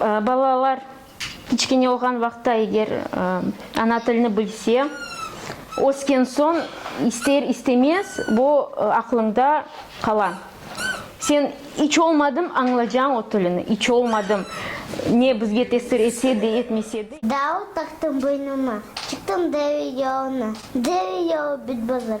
Balalar kiçkene olğan vaqıtta eger ana tilini bilse, ösken soñ ister istemez o aqlıñda qala. Sen iç olmadım añlacañ o tilini, iç olmadım ne bizge tesir etse de, etmese de. Dağ taqtım boynuma, çıqtım deve yoluna, deve yolu bit bozuk.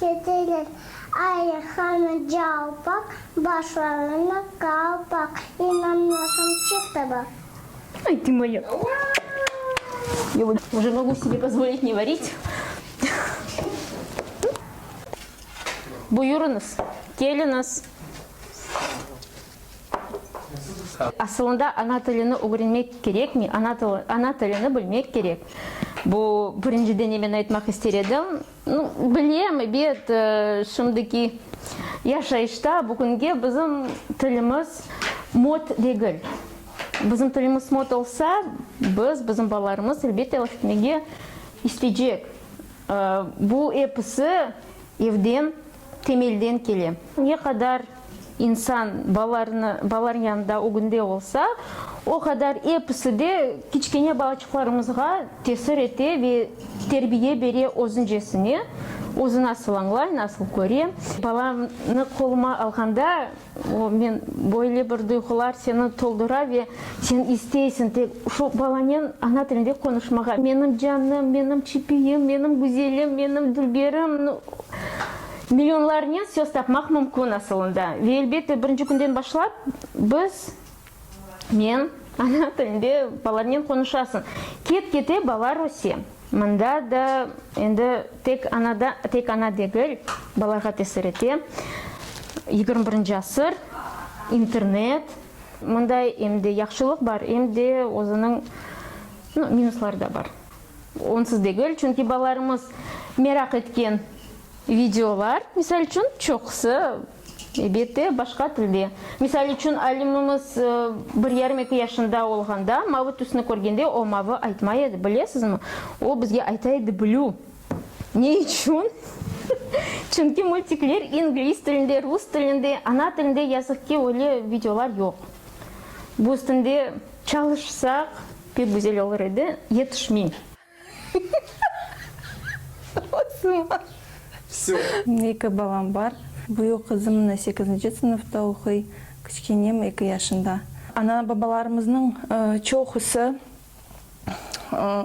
Keteler ayır hanı calpaq, başlarına qalpaq, inanmasam çık da baq. Ay, tı moya! Ya bu uca mogu sibe pozvolit ne vorit. Buyurıñız, keliñiz. Asılında ana tilini ögrenmek kerekmi? Ana tilini bilmek kerek. Bu birinci denemen aytmaq ister edim. No, bilem, ebet, şimdiki yaşayışta bugünge bizim tilimiz mod degil. Bizim tilimiz mod olsa, biz, bizim balalarımız, elbette, laf etmege isteycek. Bu episi evden temelden kele. Ne qadar insan balalarını, balalarnıñ yanında ögünde olsa, o qadar episi de kiçkene balaçıqlarımızğa tesir ete ve terbiye bere özüncesine, özü nasıl añlay, nasıl köre. Balamnı qoluma alğanda O, men, böyle bir duyğular seni toldura ve sen isteysiñ tek şu balanen ana tilinde qonuşmağa. Menim canım, menim çipiyim, menim güzelim, menim dülberim, no, millionlarnen söz tapmaq mümkün asılında. Ve elbette, birinci künden başlap biz. Men, Ana tilinde balarnen qonuşasıñ. Ket-kete bala Rusiye. Mında da endi tek anada, tek ana degil, balağa tesir ete. Yigirmi birinci asır, internet. Mında em de yahşılıq bar, em de özüniñ, no, minusları da bar. Onsız degil, çünki balalarımız meraq etken videolar, misal içün, çoqusı, Elbette, başqa tilde. Misal içün, alimimiz bir yarım eki yaşında olğanda mavı tüsni körgende o mavı aytmay edi, bilesizmi? O bizge ayta edi blue. Ne içün? Çünki multikler ingliz tilinde, rus tilinde, ana tilinde yazıq ki, öyle videolar yoq. Bu üstünde çalışsaq, pek güzel olur edi, yetişmey. Eki balam bar. Büyük qızım mına sekizinci sınıfta oquy, kiçkenem eki yaşında. Ana-babalarımıznıñ çoqusı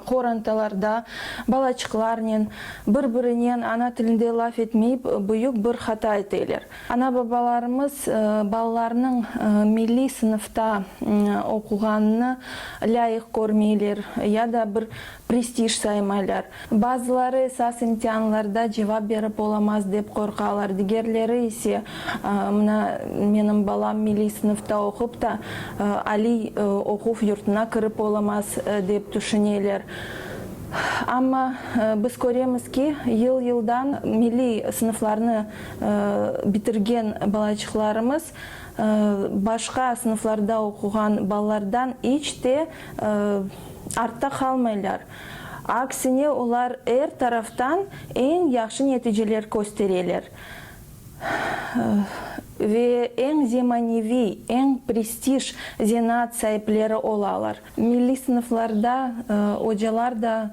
qorantalarda balaçıqlarnen, bir-birinen ana tilinde laf etmeyip, büyük bir hata eteler. Ana-babalarımız balalarnıñ milliy sınıfta oquğanını lâyıq körmeyler ya da bir prestij saymaylar. Bazıları esas imtianlarda cevap berip olamaz dep qorqalar, digerleri ise, mına, menim balam milliy sınıfta oqup ta, aliy oquv yurtuna kirip olamaz, dep tüşüneler. Amma biz köremiz ki, yıl-yıldan milliy sınıflarnı Bitirgen balaçıqlarımız başqa sınıflarda oquğan balalardan iç te artta qalmaylar, aksine, olar er taraftan eñ yahşı neticeler köstereler ve eñ zemaneviy, eñ prestij zenaat saipleri olalar. Milliy sınıflarda ocalar da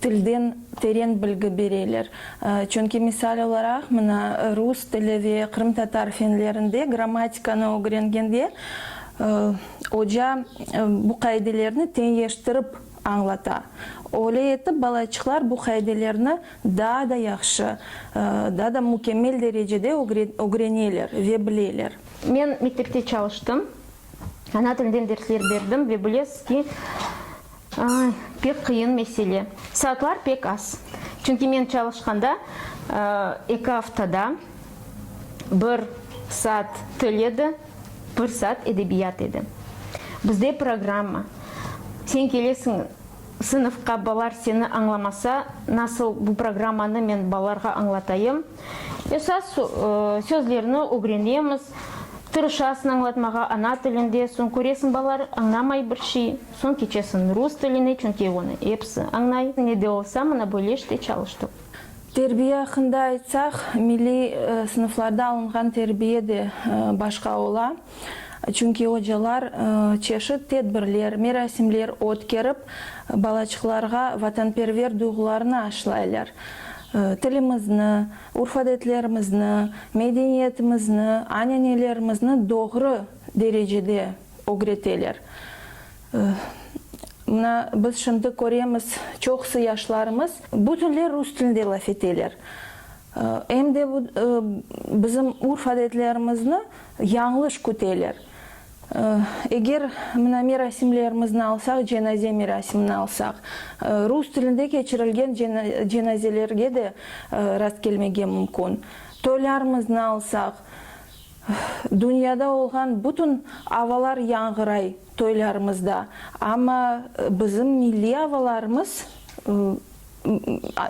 tilden teren bilgi bereler. Çünki, misal olaraq, mına, rus tili ve qırımtatar fenlerinde grammatikanı ögrengende oca bu qaidelerni teñeştirip añlata. Öyle etip, balaçıqlar bu qaidelerni daa da yahşı, daa da mükemmel derecede ögreneler ve bileler. Men mektepte çalıştım. Ana tilden dersler berdim ve bilesiz ki, pek qıyın mesele. Saatlar pek az. Çünki men çalışqanda eki aftada bir saat til edi, bir saat edebiyat edi. Bizde programma, sen kelesiñ Sınıfqa balar seni añlamasa, nasıl bu programmanı men balarğa añlatayım? Esas sözlerni ögrenemiz, tırışasıñ añlatmağa ana tilinde, soñ köresiñ balar añlamay bir şey, soñ keçesiñ rus tiline, çünki onı episi añlay. Ne de olsa, mına böyle işte çalıştım. Terbiye aqqında aytsaq, milliy sınıflarda alınğan terbiye de başqa ola. Çünki ocalar çeşit tedbirler, merasimler ötkerip, balaçıqlarğa vatanperver duyğularını aşlaylar, tilimizni, urf-adetlerimizni, medeniyetimizni, anenelerimizini doğru derecede ögreteler. Mına, biz şimdi köremiz, çoqusı yaşlarımız bütünley rus tilinde laf eteler. Em de bizim urf-adetlerimizni yañlış küteler. Eger mına merasimlerimizni alsaq, cenaze merasimini alsaq, rus tilinde keçirilgen cenazelerge de rastkelmege mümkün. Toylarımıznı alsaq, dünyada olğan bütün avalar yañğıray toylarımızda, amma bizim milliy avalarımız,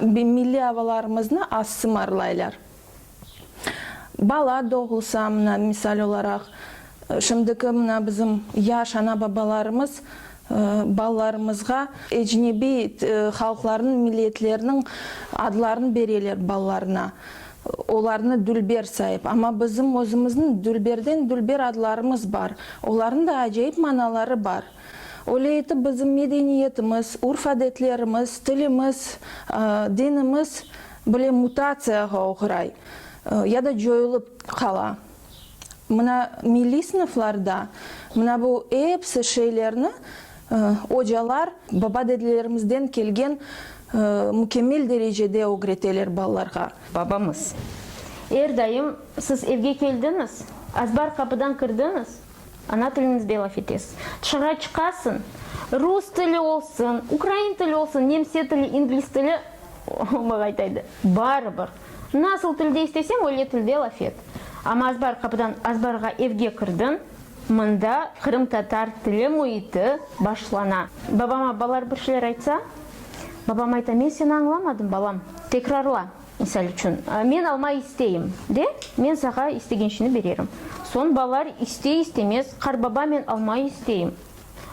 Milliy avalarımıznı az sımarlaylar. Bala doğulsa, mına, misal olaraq, şimdiki mına bizim yaş ana-babalarımız balalarımızğa ecnebiy halqlarnıñ, milliyetlerniñ adlarını bereler balalarına, olarnı dülber sayıp. Amma bizim özümizniñ dülberden-dülber adlarımız bar. Olarnıñ da acayip manaları bar. Öyle etip bizim medeniyetimiz, urf-adetlerimiz, tilimiz, dinimiz bile mutatsiyağa oğray ya da coyulıp qala. Mına milliy sınıflarda mına bu episi şeylerni ocalar baba-dedelerimizden kelgen mükemmel derecede ögreteler balalarğa. Babamız, Er daim siz evge keldiñiz, azbar qapıdan kirdiñiz. Ana tiliñizde laf etes. Tışarğa çıqasıñ, rus tili olsun, ukrain tili olsun, nemse tili, ingliz tili, omaq aytaydı, barıbır. Nasıl tilde isteseñ, öyle tilde laf et. Amma azbar qapıdan azbarğa evge kirdiñ, mında qırımtatar tili müiti başlana. Babama balar bir şeyler aytsa, babam ayta, men seni añlamadım, balam, tekrarla. Misal içün, Men alma isteyim, de, men sağa istegenşini bererim. Soñ balalar istey-istemez, Qarbaba, men alma isteyim.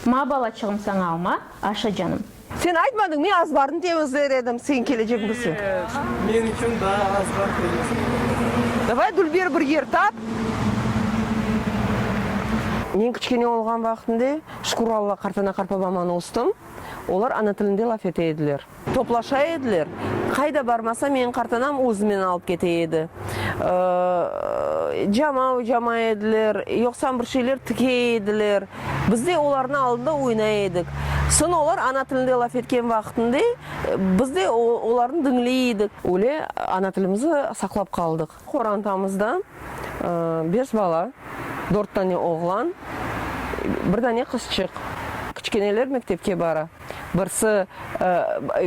Ma, balaçığım, saña alma, aşa, canım. Sen aytmadıñ, men azbarnı temizler edim, sen kelecekmisiñ? Yoq, men içün daa azbar temizlemedim. Davay, Dülber, bir yer tap. Men kiçkene olğan vaqtımda, şükür Alla, qartana-qarpa bamanı östüm, olar ana tilinde laf ete ediler. Toplaşa ediler. Qayda barmasa, meñ qartanam özümen alıp kete edi. Cama ocama ediler, yoqsam bir şeyler tike ediler. Biz de olarnı aldında oynay edik. Soñ olar ana tilinde laf etken vaqıtında biz de olarnı diñley edik. Öyle ana tilimizni saqlap qaldıq. Qorantamızda beş bala, dört dane oğlan, bir dane qızçıq. Kiçkeneler mektepke bara. Birsi,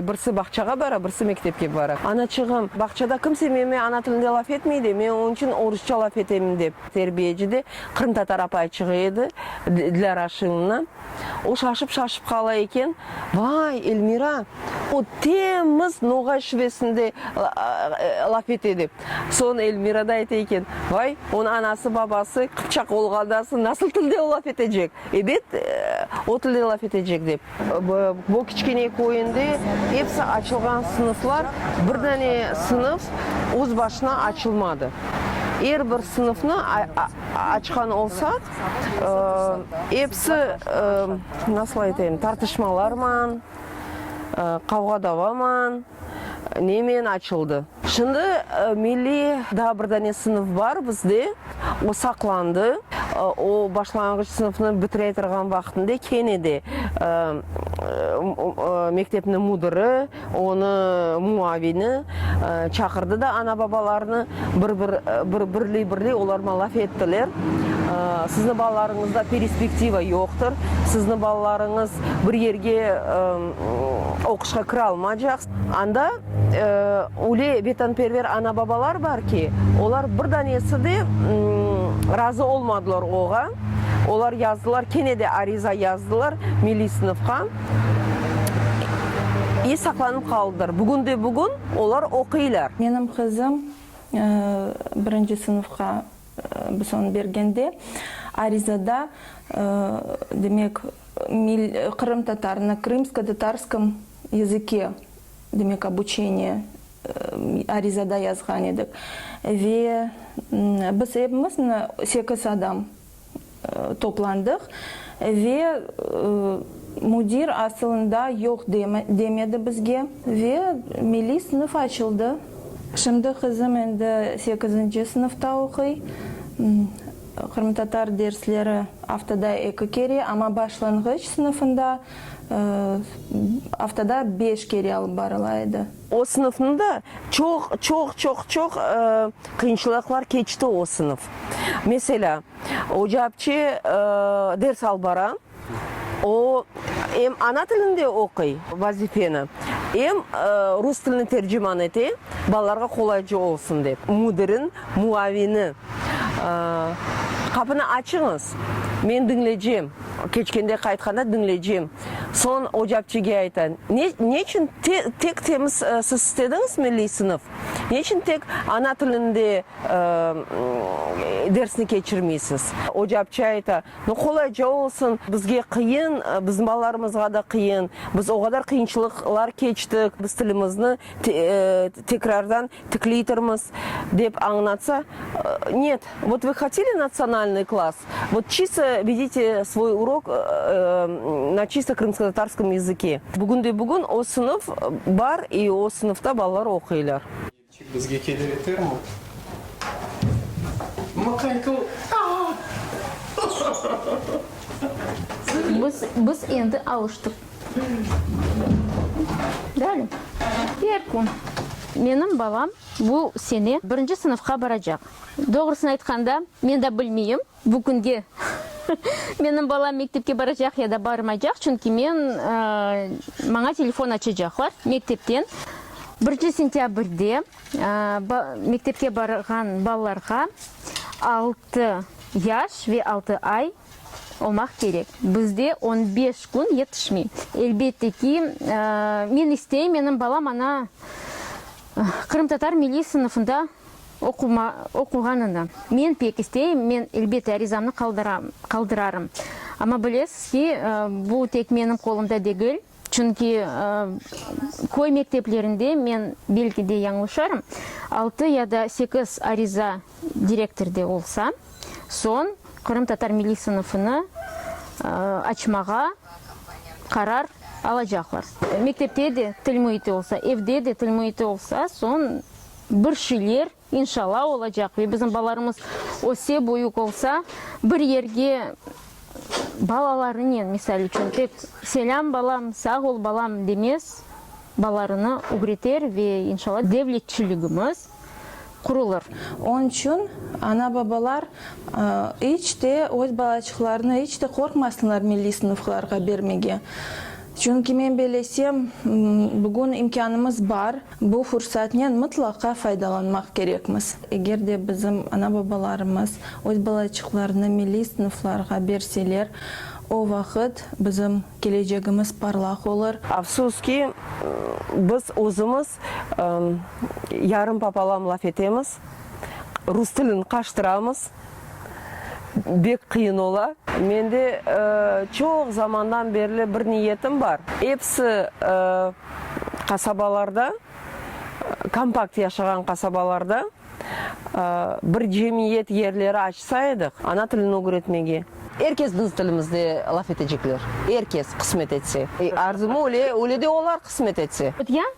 birsi bağçağa bara, birsi mektepke bara. Anaçığım, bağçada kimse menime ana tilinde laf etmey de, men onıñ içün orusça laf etem, dep. Terbiyeci de qırımtatar apay çığa edi, Dilâra Şinovna. O şaşıp-şaşıp qala eken, Vay, Elmira! O temiz noğay şübesinde laf etedi. Soñ Elmira da ayta eken, Vay, onıñ anası-babası qıpçaq olğandan soñ nasıl tilde o laf etecek? Ebet, o tilde laf etecek, dep. Bu kiçkene köyünde episi açılğan sınıflar, bir dane sınıf öz başına açılmadı. Er bir sınıfnı açqan olsaq, Episi, nasıl aytayım, tartışmalarman, qavğa-davaman, nemen açıldı. Şimdi milliy daa bir dane sınıf bar bizde, o saqlandı. O başlanğıç sınıfnı bitirey turğan vaqtında kene de mektepniñ müdiri, Onı muavini çaqırdı da ana-babalarnı, birli-birli olarma laf ettiler, Sizni balalarıñızda perispektiva yoqtır, sizni balalarıñız bir yerge oquşqa kire almaycaq. Anda öyle vetanperver ana-babalar bar ki, olar bir danesi de razı olmadılar oğa, olar yazdılar, kene de ariza yazdılar milliy sınıfqa. İ saqlanıp qaldılar. Bugün de bugün olar oquylar. Menim qızım birinci sınıfqa son bergende arizada, demek, Qırım Tatar, na krımsko-tatarskım yazıke, demek, obuçeniye arizada yazğan edik. Ve biz epimiz, na sekiz adam, toplandıq ve müdir asılında yoq demedi bizge ve milliy sınıf açıldı. Şimdi qızım endi sekizinci sınıfta oquy. Qırımtatar dersleri aftada eki kere, amma başlanğıç sınıfında aftada beş kere alıp barıla edi. O sınıfnı da çoq, çoq, çoq, çoq qıyınçılıqlar keçti o sınıf. Meselâ, oca apçe ders alıp bara, o em ana tilinde oquy vazifeni, em rus tilini terciman ete, balalarğa qolaycı olsun dep. Müdirin muavini, Qapını açıñız, men diñlecem. Keçkende qaytqanda diñleycem. Soñ ocapçige ayta, Ne, neçün te, tek temiz siz istediñiz milliy sınıf? Neçün tek ana tilinde dersni keçirmeysiz? Ocapçı ayta, Nu, qolayca olsun, bizge qıyın, bizim balalarımızğa da qıyın, biz o qadar qıyınçılıqlar keçtik, biz tilimizni Tekrardan tikleytirmiz, dep añlatsa, Net, vot vı hoteli natsionalnıy klass, vot çisto vedite svoy urok na çisto krımskotatarskım yazıke. Bugünde-bugün o sınıf bar i o sınıfta balalar oquylar. Elçik bizge kele bitermi? Mıqaytıl, Biz endi alıştıq. Dali, er kün. Menim balam bu sene birinci sınıfqa baracaq. Doğrusını aytqanda, men de bilmeyim, bu künge menim balam mektepke baracaq ya da barmaycaq, çünki men, maña telefon açacaqlar mektepten. Birinci sentâbrde mektepke barğan balalarğa altı yaş ve altı ay olmaq kerek. Bizde on beş kün yetişmey. Elbette ki, men isteyim, menim balam ana qırımtatar milliy sınıfında oquğanını. Men pek isteyim, men, elbette, arizamnı qaldırarım. Amma bilesiz ki, bu tek menim qolumda degil. Çünki köy mekteplerinde, men belki de yañlışarım, altı ya da sekiz ariza direktor de olsa, soñ qırımtatar milliy sınıfını açmağa qarar alacaqlar. Mektepte de til müiti olsa, evde de til müiti olsa, soñ bir şeyler İnşalla olacaq ve bizim balalarımız öse büyük olsa bir yerge balalarınen misal içün tek selâm balam, sağ ol balam demez balalarını ügreter ve inşalla devletçiligimiz qurulır. Onıñ içün ana babalar iç te öz balaçıqlarını iç te qorqmasınlar milliy sınıflarğa bermege. Çünki men belesem bugün imkânımız bar. Bu fursatnen mıtlaqa faydalanmaq kerekmiz. Eger de bizim ana-babalarımız öz balayçıqlarını milliy sınıflarğa berseler, o vaqıt bizim kelecegimiz parlaq olur. Afsus ki, biz özümiz yarım papalam laf etemiz, rus tilini qaştıramız. Bek qıyın ola. Mende çoq zamandan berli bir niyetim bar. Episi qasabalarda, kompakt yaşağan qasabalarda bir cemiyet yerleri açsa edik, ana tilini ögretmege. Er kes biz tilimizde laf etecekler. Er kes, qısmet etse. Arzumı öyle, öyle de olar, qısmet etse. Ötken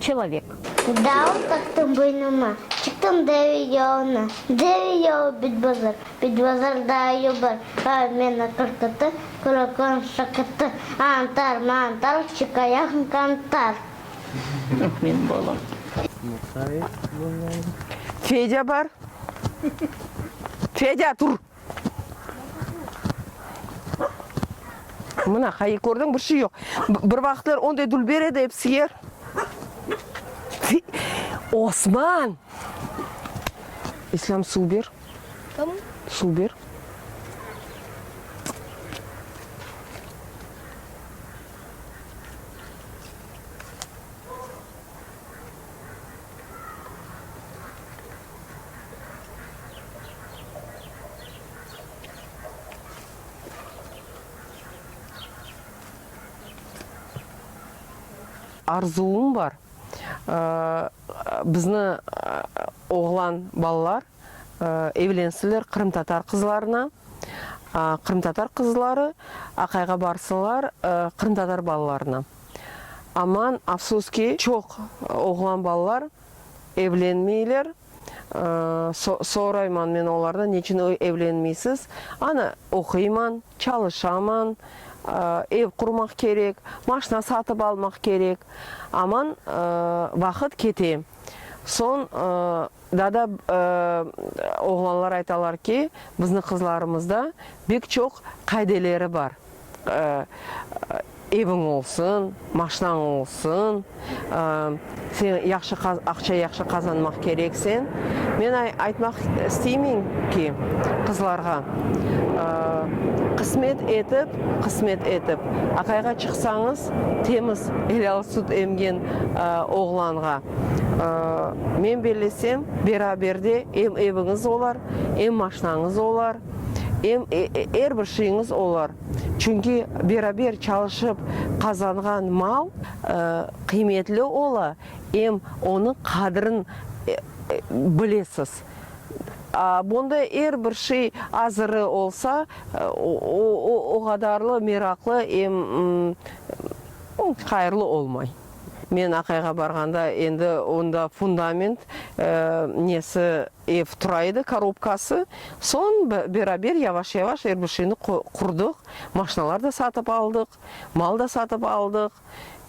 Çelovek. Dağ taktım boynuma, çıktım deve yoluna. Deve yolu bit bazar, bit bazar daa yol bar. Aa, men aqır qatı, quraqlığım şaqırtı. Antar, mantar, çıqayaqmı qantar. Yoq, menim balam. Fedya bar. Fedya, tur! Mına, hayır, kördiñ, bir şey yoq. Bir vaqıtlar onday dülber edi, ep siyer. Osman! İslâm, suv ber. Tamam. Suv ber. Arzuvım bar, bizni oğlan balalar evlensinler qırımtatar qızlarına, qırımtatar qızları aqayğa barsınlar qırımtatar balalarına. Aman, afsus ki, çoq oğlan balalar evlenmeyler. Sorayman men olardan, neçün evlenmeysiz? Ana, oquyman, çalışaman, ev qurmaq kerek, maşna satıp almaq kerek. Aman, vaqıt kete. Soñ Daa da oğlanlar aytalar ki, bizniñ qızlarımızda bek çoq qaideleri bar, eviñ olsun, maşinañ olsun, sen yahşı aqça yahşı qazanmaq kerek sen. Men aytmaq isteymen ki, qızlarğa, qısmet etip, qısmet etip, aqayğa çıqsañız, temiz, helâl sut emgen oğlanğa, Men bellesem, beraberde em eviñiz olar, em maşinañız olar, em er bir şeyiñiz olar. Çünki beraber çalışıp qazanğan mal qıymetli ola, em onıñ qadrin bilesiz. A bunda er bir şey azırı olsa, o qadarlı meraqlı em hayırlı olmay. Men Aqayğa barğanda endi onda fundament nesi, ev tura edi, korobkası. Soñ beraber yavaş-yavaş er bir şeyni qurdıq. Maşinalar da satıp aldıq, mal da satıp aldıq.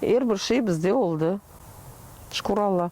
Er bir şey bizde oldı, şükür Alla.